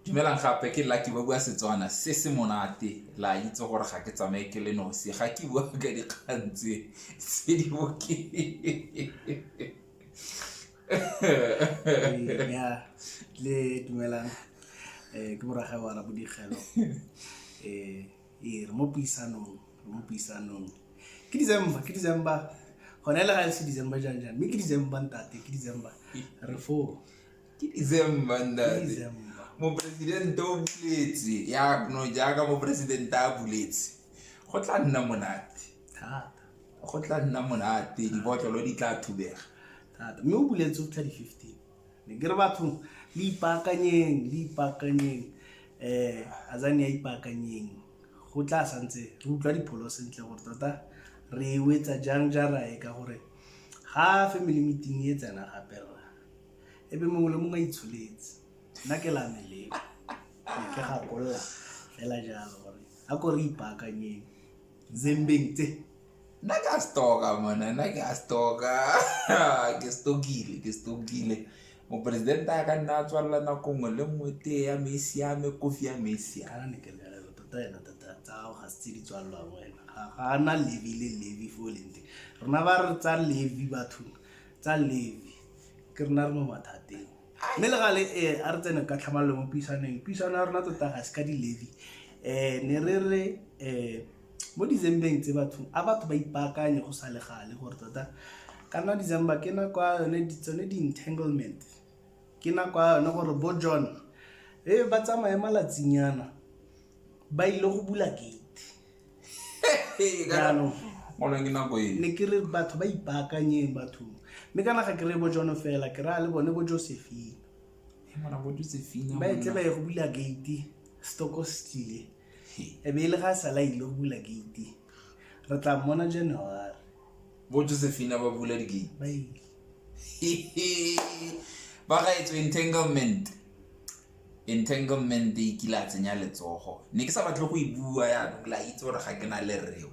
Dumelang gape ke Lucky ba bua Setswana se se monate la itse gore ga ke tsamaye ke le nosi ga ke bua ka dikgang tse tse di boke ya le dumelang eh ke moraga wa ra bodigelo eh e re mo puisanong re mo puisanong ke December ke December gone le ga se December jang jang mme ke December ntate ke December re foo ke december ntate moporesidente o buletse yakno jaaka moporesidente a buletse go tla nna monate go tla nna monate dibotlolo di tla thubega mme o buletse o tla di-fifteen ne ke re bathong le ipaakanyeng le ipaakanyeng um azane ya ipaakanyeng go tla santse re utlwa dipholo sentle gore tota re wetsa jang jara e ka gore ga family meeting e tsena gape rra e be mongwe le mongwe a itsholetse nna ke la meleko ne ke gakolola fela jalo gore a ko re ipaakanyeng zembeng tse nna ke a stoka mona nna ke a stoka ke stokile ke stokile moporesidente a ka nna a tswalela nako nngwe le nngwe tee ya me e siame kofi ya me e siame tota ena tota tsa gago ga se tse di tswalelwang wena ga ana levi le levi fo lente rona ba re tsa levi bathong tsa levi ke rena re mo mathateng mme le gale e a re tsene ka tlhamalelo mo puisaneng puisano ya rona tota ga se ka di-levy um ne re re um mo dizembeng tse batho a batho ba ipaakanye go sa le gale gore tota ka nna december ke nako ya yone tsone di-entanglement ke nako ya yone gore bo john e ba tsamaye malatsinyana ba ile go bula gate jaanong mona ke nako e ne ke re batho ba ipaakanyeng bathong mme kana ga ke re bo jono fela ke raya le bone bo josephine mona bo josephine ba etle ba ye go bula gate stoko stile e be e le ga a sala ile go bula gate re tla mmona january bo josephine ba bula digate ba ile ba ga etswe in tanglement Entanglement e kile a tsenya letsogo, ne ke sa batle go e bua yaanong la itse gore ga ke na le rreo.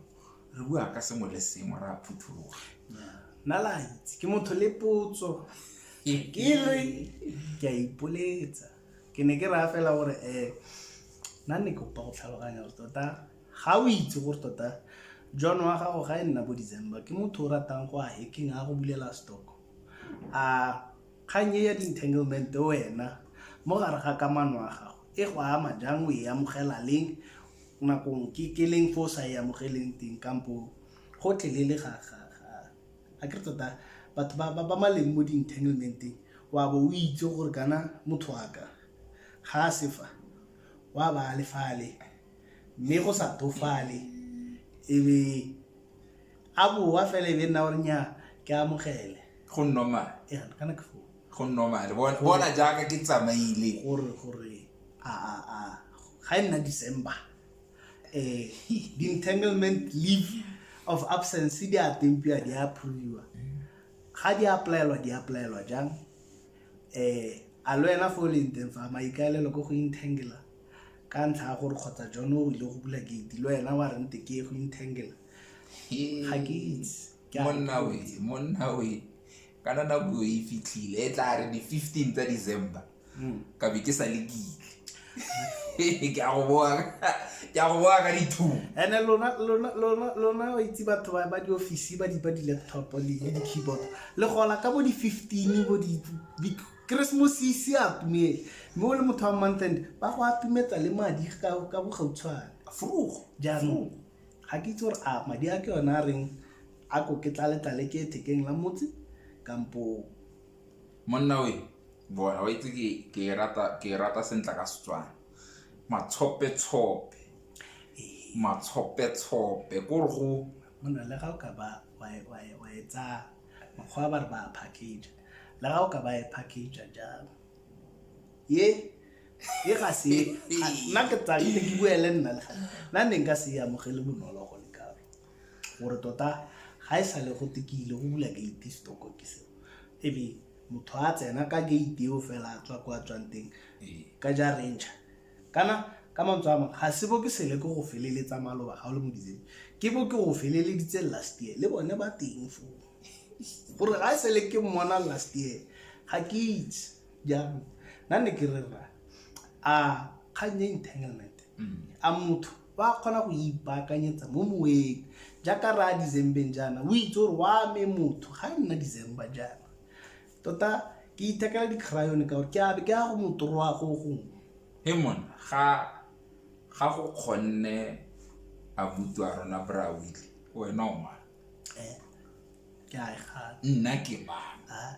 Re bua ka sengwe le sengwe ra phuthuloga. Nna la itse ke motho le potso ke re ke a ipoletsa ke ne ke raya fela gore um nna ne ke kopa go tlhaloganya gore tota ga o itse gore tota john wa gago ga e nna bo december ke motho o ratang go a hacking a go bulela stock a Kgang e ya di-entanglement wena mo gare ga kamano ya gago e go ama jang, o e amogela leng, nakong ke ke leng fo o sa e amogeleng teng kampo go tlelele ga ga ga a ke re tota batho ba ba ba maleng mo di-entanglement-eng wa bo o itse gore kana motho wa ka ga a sefa wa ba a lefale mme go sa tofale e be a boa fela e be nna gore nya ke amogele go normal ya kana ke foo go normal bona bona jaaka ke tsamaile gore gore a a a ga e nna december eh the entanglement leave of absence di a tempiwa di a approviwa ga di applyelwa di applyelwa jang eh a lo ena fo o leng teng fa maikaelelo ko go intangela ka ntlha ya gore kgotsa jone o ile go bula gate le wena wa rente ke go intangela ga ke itse Ke a monna we ipotsa. monna we kana nako e fitlhile e tla re di-fifteen tsa december Mm. ka be ke sa le kile ke a go boa ka- ke a go boa ka dithumo ene lona lona lona lona o itse batho ba ba di-office ba di ba di-laptop le le di-keyboard le gola ka bo di-fifteen bo di- di Keresemose e ise a tumele mme o le motho wa montend ba go atumetsa le madi ka ka bogautshwane Vroeg. jaanong ga ke itse gore a madi a ke yone a reng a ko ke tlaletlale ke ethekeng la motse kampo monna we bona wa itse ke- ke e rata- ke e rata sentla ka setswana matshopetshope matshopetshope ko re go mona le ga o ka ba wa e- wa e- wa e tsaya makgwa ba re ba a package la ga o ka ba e package jalo ye e ga se nna ke tsa ke ke buele nna le gale nna ne nka se ya mogele bonolo go le kalo gore tota ga e sale go tekile go bula gate stock ke se e be motho a tsena ka gate eo fela a tswa kwa tswang teng ka ja ranger kana ka mantswe a mangwe ga se bo ke sele ke go feleletsa maloba ga o le mo ditseng ke bo ke go feleleditse last year le bone ba teng foo gore ga e sele ke mmona last year ga ke itse jaanong nna ne ke rera a kgang ya entanglement mm. a motho ba kgona go ipaakanyetsa mo moweng jaaka re a decembeng jaana o itse gore wa me motho ga e nna december jaana tota ke ithekela di-cryone ka gore ke abe ke ya go motoroa go gongwe e mone ga ga go kgonne a butswa rona bra wile wena o ke a e gana nna ke mang Ah,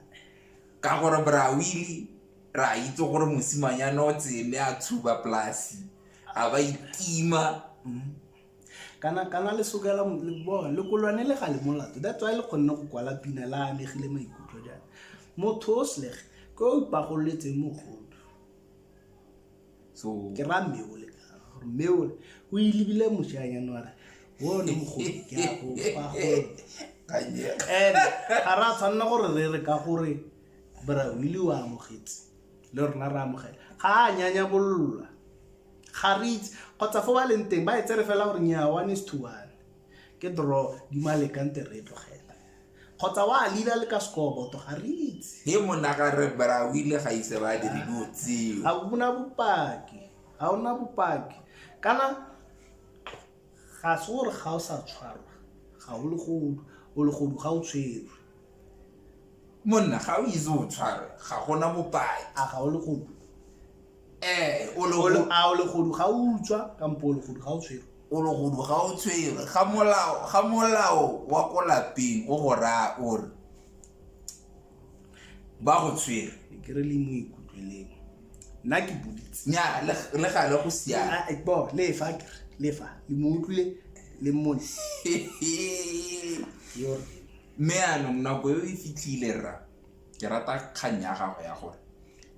ka gore brawili ra itse gore mosimanyana o tsele a tshuba polasi a ba itima mm. kana kana le sokela mo- le bo- le kolwane le ga le molato that's why le kgonne go kwala pina la amegile maikutlo jang motho o slege ke o ipagololetseng mogodu so ke ra mmeole mmeole o ilebile mošanyane ware bone mogolo ke a kopa gore kanye and ga ra tshwanela gore re re ka gore brawile o amogetse le rona re amogela ga a nyanya bolola ga re itse kgotsa fo ba leng teng ba e tsere fela gore nyaa one is to one ke draw di malekante re e tlogela kgotsa wa lila le ka sekoboto ga re itse he monaka re brawile ga ise ba dire dilo tseo ga bona bopaki ga ona bopaki kana ga se gore ga o sa tshwarwa ga o legodu o legodu ga o tshwerwe monna ga o itse o tshwarwe ga gona bopaki a ga o legodu ee o le Olo- go- a o legodu ga o utswa kampo o legodu ga o tshwere o le godu ga o tshwere ga molao ga molao wa ko lapeng o go raya o re ba go tshwere ke re le mo ikutlweleng nna ke boditse nya le le gale go siana Ah, eh, bo lefa ke re, lefa le mo utlwile le mmone yo re mme anong nako e o e fitlhile rra ke rata kgang ya gago ya gore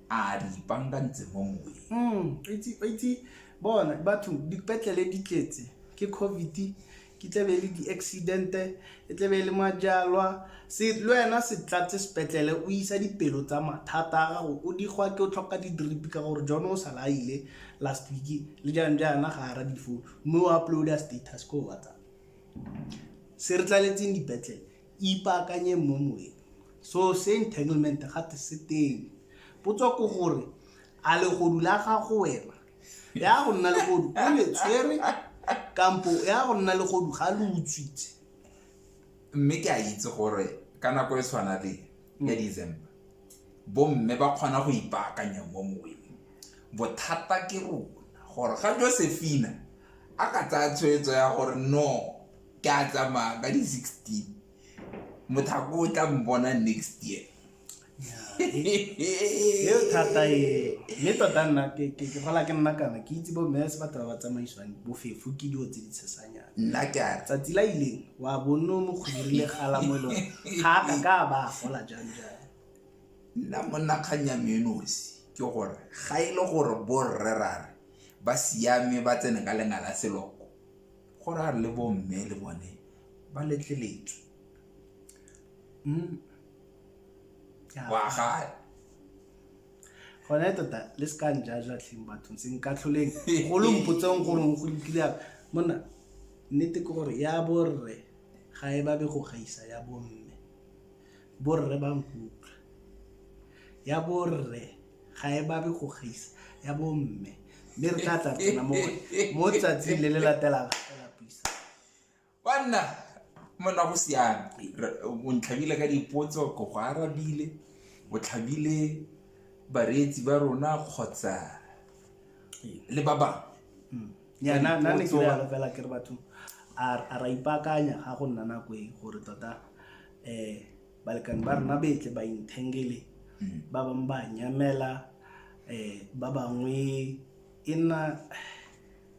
a re ipankantse mo moweng mm, itse bona batho dipetlele di tletse ke covid ke tlebe e le di-accidente e tlebe e le majalwa le wena se tlatse sepetlele o isa dipelo tsa mathata a gago o digwa ke o tlhoka di-drip ka gore jone o sa laile last week le jang jaana ga ara difo mme o uploada status ko whatsapp se re tlaletseng dipetlele Ipaakanyeng mo moweng. So se entanglement gate se teng. Potso ke gore a legodu la gago wena ya go nna legodu o le tshwere kampo ya go nna legodu ga lo utswitse. Mme ke a itse gore ka nako e tshwana le ya December bomme ba kgona go ipaakanya mo moweng. Bothata ke rona gore ga Josephina a ka tsaya tshwetso ya gore no. ke a tsamaya ka di-sixteen mothako o tla mbona next year eo thata e mme tota nna ke gola ke nna kana ke itse bo mese batho ba ba tsamaiswang bofefo ke dilo tse di tshesanyana nna ke a tsatsi la ileng wa bonno mo kgodirile gala mo e lone ga a ka ka ba gola jang jang nna monna kgang ya menosi ke gore ga e le gore borrerare ba siame ba tsene ka lenga la seloko Go ra le bo mme le bone ba letleletswe. Umm wa gale. Gone tota le se ka njaja tlheng bathong se nka tlholeng go lo mpotseng gore go lokile apa. Monna nnete ke gore ya borre ga e babe go gaisa ya bomme. Borre ba nkutlwa. Ya borre ga e babe go gaisa ya bomme mme re tla tla tsena mo mo tsatsing le le latelang banna monna go siame o ntlhabile ka dipotso ko go arabile o tlhabile bareetsi ba rona kgotsa le ba bangwe hmm. yana nna ne ke fela ke re batho a ra ipakanya ga go nna nako e gore tota um balekane ba rona betle ba inthengele hmm. ba bangwe ba nyamela um ba bangwe e nna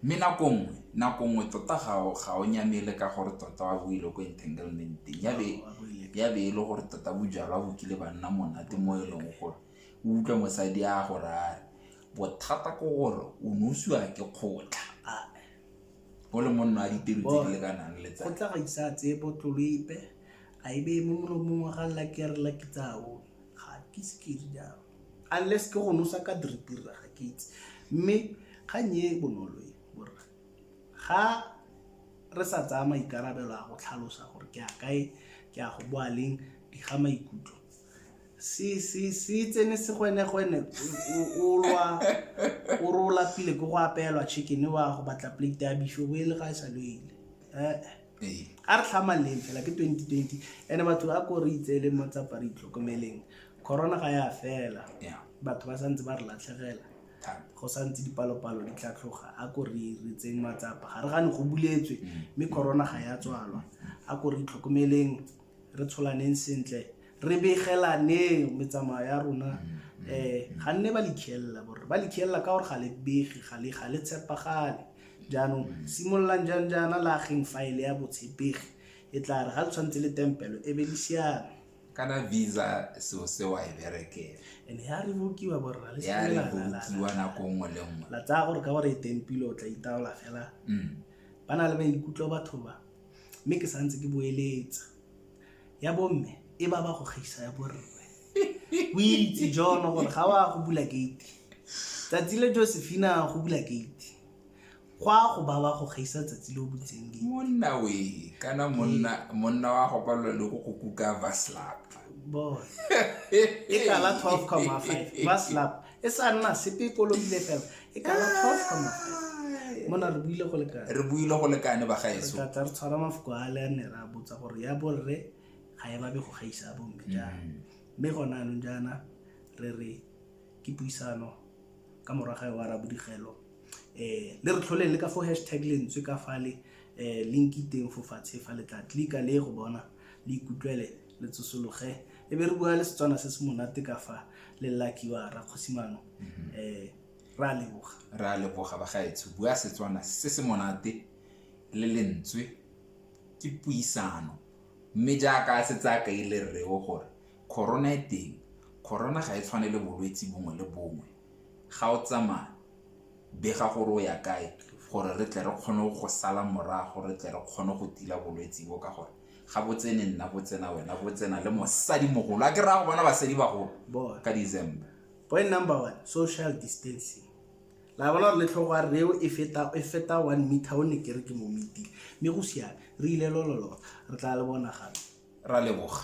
mme nako nngwe nako nngwe tota ga o nyamele ka gore tota wa boile ko entanglementeng ya be e le gore tota bojalwa bo kile ba nna monate mo e leng gore o utlwa mosadi a gore a re bothata ke gore o nosiwa ke kgotla o le monno a ditiro tse di lekanang le tsa go tla ga isa tse botlolo ipe a e beye mo molomong wa ga laki ya re laki tsao ga ke se ke di jalo unless ke go nosa ka diripirra ga ke itse mme kgang e bonolo e borra ga re sa tsaya maikarabelo a go tlhalosa gore ke a kae ke a go boa leng di ga maikutlo se se se tsene segwenegwene o- o- o lwa o re o lapile ke go apelwa chicken wa go batla plate ya bife o e le ga e sa loile Eh, Ee. a re tlhamaleng fela ke 2020 ene batho ba ko re itseeleng mo tsapa re itlhokomeleng corona ga ya fela Yeah. batho ba santse ba re latlhegela Thata. go santse dipalopalo di tla tloga a ko re re tseng matsapa ga re gane go buletswe mme corona ga ya tswalwa a ko re itlhokomeleng re tsholaneng sentle re begelaneng metsamao ya rona um ga nne ba likhiela borre ba likhiela ka gore ga le bege ga le tshepagale jaanong simololang jang jaana lageng faele ya botshepegi e tla re ga le tshwanetse le tempelo e be le siame kana visa seo se wa e berekela ene ya re bokiwa borra le ya re bokiwa nako nngwe le nngwe la tsaya gore ka gore e tempile o tla itaola fela mm. ba na le maikutlo batho ba mme ke santse ke boeletsa ya bomme e ba ba go gaisa ya borre o itse jono gore ga wa go bula gate tsatsi le josephina go bula gate go a go ba ba go gaisa tsatsi le o butseng gate monna we kana monna monna wa go palelwa le go go kuka vaslap boy e kala 12,5 vaslap e sa nna sepe e kolobile fela e kala twelve ka mafatshe mona re buile go lekane re buile go lekane ba gaeso tla re tshwara mafoko a le a ne ra botsa gore ya borre ga e babe go gaisa a bomme jang mm. mme gona anong jaana re re ke puisano ka moraga wa rabodigelo um le re tlholeng le ka fo hashtag lentswe ka fale um eh, link iteng fo fatshe fa le tla tlika le go bona le ikutlwele le tsosologe e be re bua le setswana se se monate ka fa le lakiwa rakgosimano um mhm. eh, re a leboga re a leboga bagaetsho bua setswana se se monate le lentswe ke puisano mme jaaka se tsaya ka ile rreo gore corona e teng corona ga e tshwane le bolwetse bongwe le bongwe ga o tsamaya bega gore o ya kae gore re tle re kgone go sala morago re tle re kgone go tila bolwetse bo ka gore ga botsene nna botsena wena botsena le mosadi mogolo a ke raya go bona basadi bagolo ka december point number one social distancing la bona re letlhogo a reo e feta e feta one meter o ne kere ke mo meeting mme go siame re ile lololo re tla le bona gape ra leboga